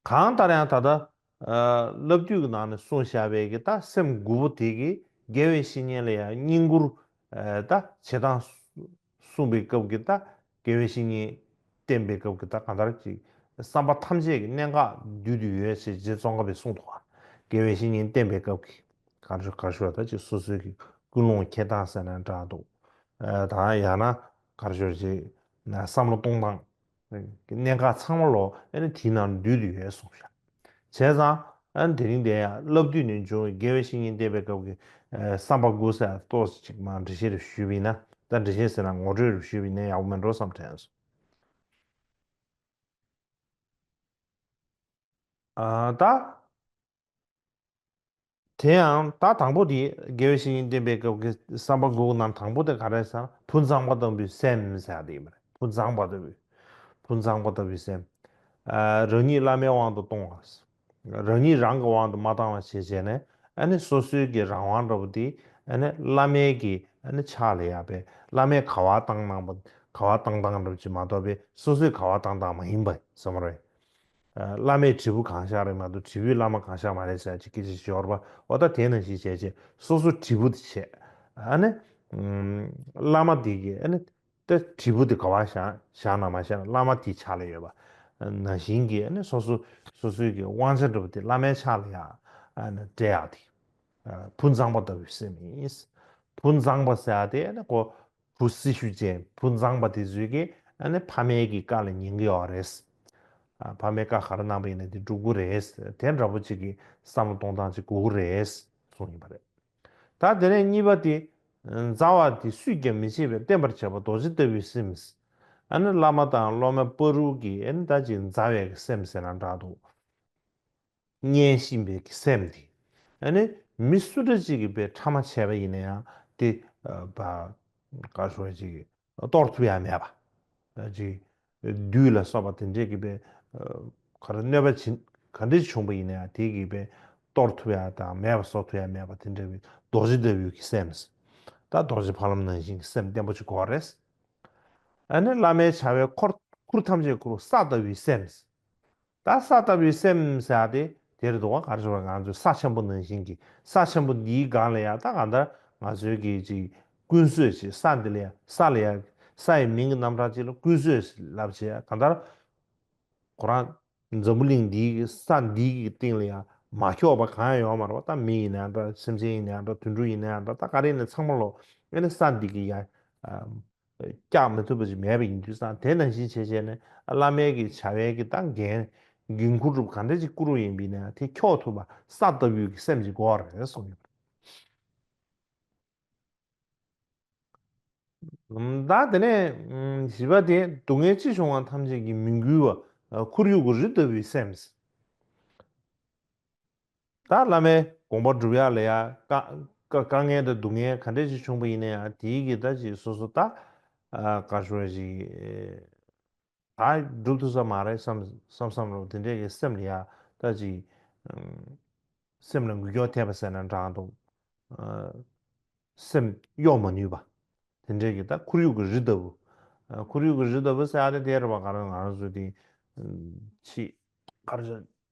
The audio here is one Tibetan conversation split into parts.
གང་ལྟར་ཡང་ད་ལྟ། བླ་བརྒྱུད་ཀྱི་ནང་ནས་གསུངས་བཞག་པའི་གི་ད་སེམས་དགུ་པོ་དེ་གི་རྒྱལ་བའི་བཤེས་གཉེན་ལ་ཡང་བསྙེན་བཀུར། ད་བྱེད་སྟངས། གསུངས་པའི་སྐབས་ཀྱི་ད་རྒྱལ་བའི་བཤེས་གཉེན། བསྟེན་པའི་སྐབས་ཀྱི་ད་གང་ལྟར་གྱི་བསམ་པ་ཐམས་ཅད་ཀྱི་གནད་འགག་བསྡུས་དུ་ཡོད་ཞེས་རྗེ་ཙོང་ཁ་པས་གསུངས་འདུག་རྒྱལ་བའི་བཤེས་གཉེན་བསྟེན་པའི་སྐབས་ཀྱི། གར་ཞུ་གར་ཞུ་བ་ད་ཅིག་སོ་སོའི་གི་ཀུན་སློང་ཁྱེར་སྟངས་ཟེར་ན་འདྲ་འདུག། དང་ཡང་ན་གར་ཞོར་གྱི་བསམ་བློ་གཏོང་སྟངས། གནད་འགག་ཚང་མ་ལོ་ཨེ་དེའི་ནང་ལ་འདུས་ཡོད་གསུངས་བཞག་བྱས་ཙང་ཨེ་དེ་རིང་དེ་ཡང་བླ་བདུད་ནས་འབྱུང་བའི་དགེ་བའི་བཤེས་གཉེན་བསྟེན་པའི་སྐབས་ཀྱི་བསམ་པ་ཀུན་གསལ་ལ་གཏོར་ཟིན་ཅིག་མང་འབྲི་བཤད་རེ་ཞུས་པའི་ན་ད་འབྲི་བཤད་ཟེར་ན་ངོ་སྤྲོད་རེ་ཞུས་པའི་ན་ཡག་པོ་མིན་འགྲོ་བསམ་དྲན་སོང། ད། དེ་ཡང་ད་དང་པོ་དེ་དགེ་བའི་བཤེས་གཉེན་བསྟེན་པའི་སྐབས་ཀྱི་བསམ་པ་འགུགས་རྣམ་དང་པོ་དེ་ག་རེ་ཟེར་ན་བུ་མཛངས་པ་ལྟ་བུའི་སེམས་ཟེར་ཡག་དེ་ཡིན་པ་རེད་བུ་མཛངས་པ་ལྟ་བུའི་བུ་མཛངས་པ་ལྟ་བུའི་སེམས། རང་ཉིད་བླ་མའི་དབང་དུ་གཏོང་བ། རང་ཉིད་རང་གི་དབང་དུ་མ་བཏང་བ་ཞེས་བྱས་ནས་ཨ་ནི་སོ་སོའི་གི་རང་དབང་འདྲ་བོ་དེ་ཨ་ནི་བླ་མའི་གི་ཨ་ནི་ཕྱག་ལས་ཡག་པས་བླ་མས་ག་བ་བཏང་གནང་བ་ག་བ་བཏང་བཏང་འགྲུབ་ཀྱི་མ་གཏོགས་པས་སོ་སོས་ག་བ་བཏང་བཏང་མ་ཡིན་པ་བསམ་རོགས། བླ་མས་དྲིལ་བུ་གང་བཞག་རེད་མ་གཏོགས་དྲིལ་བུས་བླ་མ་གང་བཞག་མ་རེད་ཟེར་ཅིག་སྐད་ཅིག་ཞོར་པའོ་ད་དེ་ནང་བཞིན་བྱས་རྗེས་སོ་སོ་དྲིལ་བུ་དེ་བྱས་ཨ་ནི། བླ་མ་དེ་གིས་ཨ་ནི། ད་དྲིལ་བུ་དེ་ག་བ་བཞག་བཞག་ན་མ་བཞག་ན་བླ་མ་དེའི་ཕྱག་ལས་ཡོད་པ། ནང་བཞིན་གྱིས་ཨ་ནི་སོ་སོ་སོ་སོའི་གི་དབང་ཆ་འགྲུབ་པ་དེ་བླ་མའི་ཕྱག་ལས་ཡག་ཨ་ནི་འབྲེལ་ཡག་དེ། བུ་མཛངས་པ་ལྟ་བུའི་སེམས་ཡིན། བུ་མཛངས་པ་ཟེར་ཡག་དེ་ཨ་ནི་གོ། བུ་སྲི་ཞུ་ཅན་བུ་མཛངས་པ་དེ་བཟོས་ཀི་ཨ་ནི་ཕ་མེས་ཀྱི་བཀའ་ལ་ཉན་གི་ཡོག་ག་རེད། ཕ་མེས་བཀའ་ག་རེ་གནང་པ་ཡིན་ན་དེ་འགྲུབ་གི་རེད། དེ་འདྲ་པོ་གཅིག་གི་བསམ་བློ་གཏོང་སྟངས་གཅིག་དགོས་གི་རེད་གསུངས་ཡོད་པ་རེད། ད་དེ་ནས་གཉིས་པ་དེ། མཛའ་བ་དེ་སུས་ཀྱང་མི་བྱེད་པའི་བསྟན་པར་བྱ་བ་རྡོ་རྗེ་ལྟ་བུའི་སེམས། ཨ་ནི་བླ་མ་དང་སློབ་མ་པ་རུ་གི་ཨ་ནི་ད་ཅིག་མཛའ་བའི་སེམས་ཟེར་ན་འདྲ་འདུག། མཉན་བཞིན་པའི་གི་སེམས་དེ། ཡང་ནི་མི་སུ་འདྲ་ཅིག་གིས་པའི་ཕྲ་མ་བྱས་པ་ཡིན་ན་ཡང་དེ། བར་ཞོག་ཅིག། གཏོར་ཐུབ་ཡ་མེད་པ། ཅིག། བདུད་ལ་སོགས་པ་དེ་འདྲས་གིས་པའི། ག་རེ་གནོད་པ་བྱིན་ག་འདྲས་བྱུང་པ་ཡིན་ན་ཡང་དེ་གིས་པའི། གཏོར་ཐུབ་ཡ་དང་མེད་པ་བཟོ་ཐུབ་ཡ་མེད་པ་དེ་འདྲ་བའི་རྡོ་རྗེ་ལྟ་བུའི་གི་སེམས། ད་རྡོ་རྗེ་ཕ་ལམ་ནང་བཞིན་གི་སེམས་བརྟན་པོ་ཅིག་གོ་རེས། ཡང་ནི་བླ་མའི་བྱ་བའི་འཁོར་ཁུར་ཐམས་ཅད་ཁུར་བ་ས་ལྟ་བུའི་སེམས། ད་ས་ལྟ་བུའི་སེམས་བྱ་སྟེ་དེར་འདུག་ག་གར་བྱེད་པ་ང་ཚོའི་ས་ཆེན་པོ་ནང་བཞིན་གྱི་ས་ཆེན་པོ་འདིའི་སྒང་ལ་ཡང་ད་གང་ལྟར་ང་ཚོའི་གི་ཅིག་ཀུན་བཟོས་ཞེས་ས་འདི་ལ་ཡང་ས་ལ་ཡང་ས་ཡི་མིང་གི་རྣམ་གྲངས་གཅིག་ལ་ཀུན་བཟོས་ཞེས་ལབ་བྱས་ཡ་གང་ལྟར་ཁོ་རང་འཛམ་བུ་གླིང་འདིའི་གི་ས་འདིའི་གི་སྟེང་ལ་ཡང་མ་ཁྱོགས་པ་གང་ཡང་ཡོང་མ་རུང་བ་ད་མི་ཡིན་ན་ཡང་འདྲ་སེམས་ཅན་ཡིན་ན་ཡང་འདྲ་དུད་འགྲོ་ཡིན་ན་ཡང་འདྲ་ད་ག་རེ་ཡིན་ན་ཚང་མ་ལོ་ཨེ་ནི་ས་འདི་གི་ཡང་བཀྱག་མི་ཐུབ་པ་ཞིག་མེད་པ་ཡིན་དུས་སང་དེ་ནང་བཞིན་བྱས་བྱས་ནས་བླ་མའི་གི་བྱ་བའི་གི་སྟངས་འགན་འགན་འཁུར་སྒྲུབ་གང་འདྲ་ཅིག་བསྐུར་བ་ཡིན་པས་ན་དེ་འཁྱོག་ཐུབ་པ་ས་ལྟ་བུའི་གི་སེམས་ཅིག་དགོས་བ་རེད་གསུངས་ཡོད། ད་དེ་ནས་བཞི་པ་དེ་སྡུག་བསྔལ་ཅི་བྱུང་བ་ཐམས་ཅད་གི་མི་འགུལ་བ་ཁོར་ཡུག་གི་རི་ལྟ་བུའི་སེམས། ད་བླ་མའི་དགོངས་པ་སྒྲུབ་ཡག་ལས་ཡག་དཀའ་ངལ་དང་སྡུག་བསྔལ་ག་འདྲས་ཅིག་བྱུང་པ་ཡིན་ན་ཡང་དེའི་གི་ད་ཅིག་སོ་སོ་ད་ག་ཞོ་ཡ་ཅིག་ད་སྒྲུབ་ཐུབ་ས་མ་རེད་བསམ་བསམ་བསམ་རོགས་དེ་འདྲས་གི་སེམས་ལ་ཡག་ད་ཅིག་སེམས་ལ་འགུལ་སྐྱོག་ཐེབས་པ་ཟེར་ན་འདྲང་འདུག་སེམས་གཡོག་མ་ནུས་པ་དེ་འདྲས་གི་ད་ཁོར་ཡུག་གི་རི་ལྟ་བུ་ཁོར་ཡུག་གི་རི་ལྟ་བུ་ཟེར་ཡག་དེ་དེར་བ་ག་རེ་ང་རང་ཚོ་དེ་ཕྱིས་ག་རེ་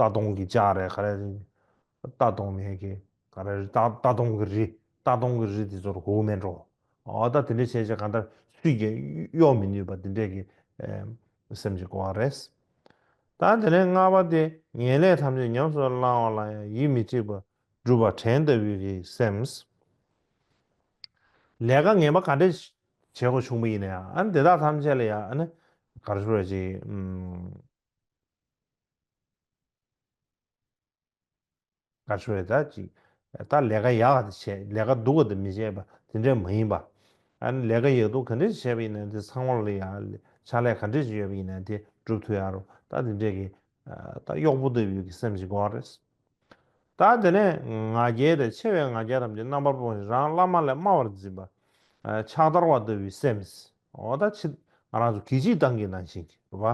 རྟ་གདོང་གི་ལྕགས་རེད་ག་རེ། རྟ་གདོང་མེད་གི་ག་རེ་རེད། རྟ་གདོང་གི་རི། རྟ་གདོང་གི་རི་དེ་ཚོར་གོ་མེད་འགྲོ། ཨོ་ད་དེ་འདྲས་བྱས་བྱས་གང་ལྟར་སུས་ཀྱང་གཡོག་མི་ནུས་པ་དེ་འདྲས་ཀྱི་སེམས་ཀྱི་གོ་བ་རེད། ད་དེ་ནས་ལྔ་པ་དེ་ངན་ལས་ཐམས་ཅད་ཉམས་སུ་བླང་བ་ལ་ཡང་ཡིད་མི་ཆེས་པར་སྒྲུབ་པ་དྲན་ལྟ་བུའི་གི་སེམས། ལས་ཀ་ངན་པ་ག་འདྲས་བྱས་གོ་ཆུང་པ་ཡིན་ན་ཡང་ཨ་ནི་དེ་དག་ཐམས་ཅད་ལ་ཡང་ཨ་ནི་གར་ཤོར་བ་ཅིག། ག་ཆོས་ད་ཅིག་ད་ལས་ཀ་ཡག་དེ་བྱས་ལས་ཀ་སྡུག་ག་དེ་མི་བྱས་པ་དེ་འདྲས་མ་ཡིན་པ། ཨཱ་ལས་ཀ་ཡག་སྡུག་ག་འདྲས་བྱས་པ་ཡིན་ན་དེ་ཚང་མར་ལ་ཡག་ཕྱག་ལས་ག་འདྲས་ཅིག་ཡོད་པ་ཡིན་ན་དེ་སྒྲུབ་ཐུབ་ཡག་རོ་ད་དེ་འདྲས་ཀྱི་ད་གཡོག་པོ་ལྟ་བུའི་གི་སེམས་ཞིག་འགོག་རེས། ད་དེ་ནས་ང་རྒྱལ་དང་ཆེ་བའི་ང་རྒྱལ་ཐམས་ཅད་རྣམ་པར་སྤོང་ཞིང་རང་བླ་མ་ལས་དམའ་བར་འཛིན་པ། ཕྱག་དར་བ་ལྟ་བུའི་སེམས། འོ་ད་ཕྱིར་ང་རང་ཚོ་གིས་སྤྱི་བཏང་གི་ནང་བཞིན་བ།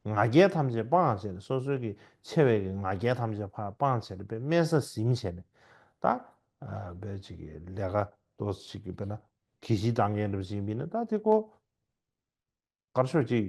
ང་རྒྱལ་ཐམས་ཅད་སྤང་བྱས་ནས་སོ་སོའི་གི་ཆེ་བའི་གི་ང་རྒྱལ་ཐམས་ཅད་ཕར་སྤང་བྱས་ནས་པའི་དམན་ས་ཟིམ་བྱས་ནས་ད། བའི་ཅིག་གི་ལས་ཀ་དོ་ཅིག་གི་བས་ན་གིས་སྤྱི་བཏང་གི་ནང་བཞིན་བས་ན་ད་དེ་ཀོ། དཀར་ཕྱོགས་ཅིག།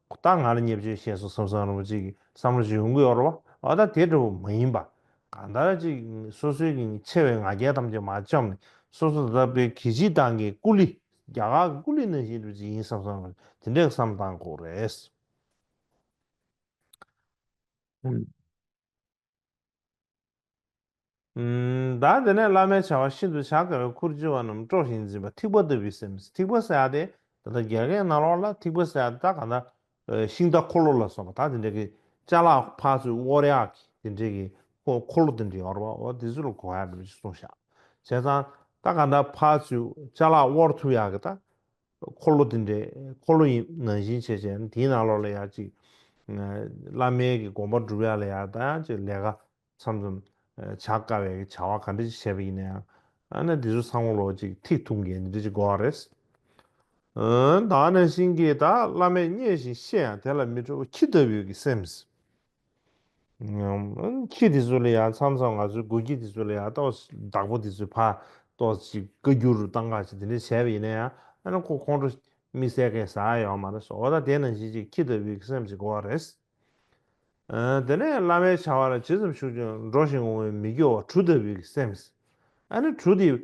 ཁོ་ད་ང་ལ་ཉེས་བྱས་ཤེས་སོང་བསམ་བསམ་རུང་ཅིག་བསམ་བློ་ཞིག་ཡོང་གི་ཡོད་རེད་བ་ད་དེ་འདྲ་བོ་མ་ཡིན་པ་གང་ལྟར་ཅིག་སོ་སོའི་གི་ཆེ་བའི་ང་རྒྱལ་ཐམས་ཅད་མ་བཅོམ་ནས་སོ་སོ་ད་བོད་གི་སྤྱི་བཏང་གི་སྐུ་ལི་རྒྱ་གར་གི་སྐུ་ལི་ནང་བཞིན་དུ་ཅིག་ཡིན་བསམ་བསམ་རུང་དེ་འདྲའི་བསམ་བཏང་དགོས་རེད། བདག་དེ་ནས་བླ་མའི་བྱ་བ་ཤིན་ཏུ་བྱ་དཀའ་བའི་ཁུར་བཅུ་བ་རྣམས་དཀྲོགས་ཤིང་འཛིན་པ་ཐིགས་པ་ལྟ་བུའི་སེམས་ཐིགས་པ་བསལ་ཏེ་ད་ལྟ་རྒྱལ་ཁའི་ནང་ལོགས་ལ་ཐིགས་པ་བསལ་ཏེ་ད་ག་ད་ཤིང་རྟ་འཁོར་ལོ་ལ་སོགས་པ་དག་དེ་འདྲའི་གི་ལྕགས་ལ་ཕག་ཚུལ་དབོར་ཡག་གི་དེ་འདྲའི་གི་འཁོར་ལོ་དེ་འདྲའི་ཡོར་བ་འོ་དེ་ཚུལ་ལ་གོ་བ་ཡག་གི་མི་ཅིག་གསུངས་ཤག་བྱས་ཙང་ད་ག་ད་ཕག་ཚུལ་ལྕགས་ལ་དབོར་ཐུབ་ཡག་གི་ད་འཁོར་ལོ་དེ་འདྲའི་འཁོར་ལོ་ཡིན་ནང་བཞིན་བྱེད་བྱས་ན་དེའི་ནང་ལོགས་ལ་ཡང་ཅིག། བླ་མའི་གི་དགོངས་པ་བསྒྲུབ་ཡག་ལ་ཡག་ལྟ་ཡང་ཅིག་ལས་ཀ་ཚམ་ཚོམ་བྱ་དཀའ་བས་གི་བྱ་བ་ག་འདྲ་ཅིག་བྱས་པ་ཡིན་ན་ཡང་ཨ་ན་དེ་ཚོ་ཚང་མ་ལོགས་ཅིག་ཐིག་ཐུག་འགན་འདི་འདྲ་ཅིག་དགོས་བ་རེད། ཨོན་ད་ནང་བཞིན་གི་ད་བླ་མས་བརྙས་བཞིན་བཤད་ཡང་དེ་ལ་མི་འཕྲོ་བ་ཁྱི་ལྟ་བུའི་གི་སེམས། ཁྱི་དེ་ཚོ་ལ་ཡང་མཚམས་མཚམས་ང་ཚོའི་དགོན་ཁྱི་དེ་ཚོ་ལ་ཡང་གཏོགས་བདག་པོ་དེ་ཚོའི་ཕ་གཏོགས་ཅིག་བཀའ་འགྱུར་རུ་གཏང་ཁག་ཅིག་དེ་འདྲ་བྱས་པ་ཡིན་ན་ཡང་ཨ་ན་ཁོ་ཁོང་ཁྲོ་མིག་གསལ་མཁན་ཟ་ཡ་ཡོད་མ་རེད་སོ་འོ་ད་དེ་ནང་བཞིན་ཅིག་ཁྱི་ལྟ་བུའི་སེམས་ཅིག་འགོ་བ་རེད། དེ་ནས་བླ་མའི་བྱ་བ་ལ་ཇི་ཙམ་ཞུགས་ཀྱང་འགྲོ་ཞིང་འོང་བའི་མི་སྐྱོ་བ་གྲུ་ལྟ་བུའི་སེམས། ཨ་ན་གྲུ་དེ།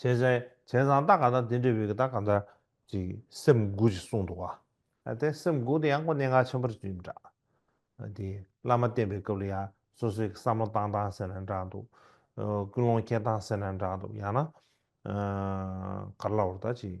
བྱས། བྱས་ཙང་རྟགས་གང་དག་དེ་འདྲའི་བུ་ག་དག་གང་དག་ཅིག་སེམས་དགུ་ཞེས་གསུངས་འདུག་བ། དེ་སེམས་དགུ་དེ་ཡང་སྒོ་གནད་ངག་ཆེན་པོར་བརྗོད་ཡིན་འདྲ། དེ་བླ་མ་བསྟེན་པའི་སྐབས་ལ་ཡང་སོ་སོའི་བསམ་བློ་བཏང་བཏང་ཟེར་ན་འདྲ་འདུག། ཀུན་སློང་སྐྱེ་བཏང་ཟེར་ན་འདྲ་འདུག་ཡང་ན། ག་རེ་ལ་བོར་ད་ཅིག།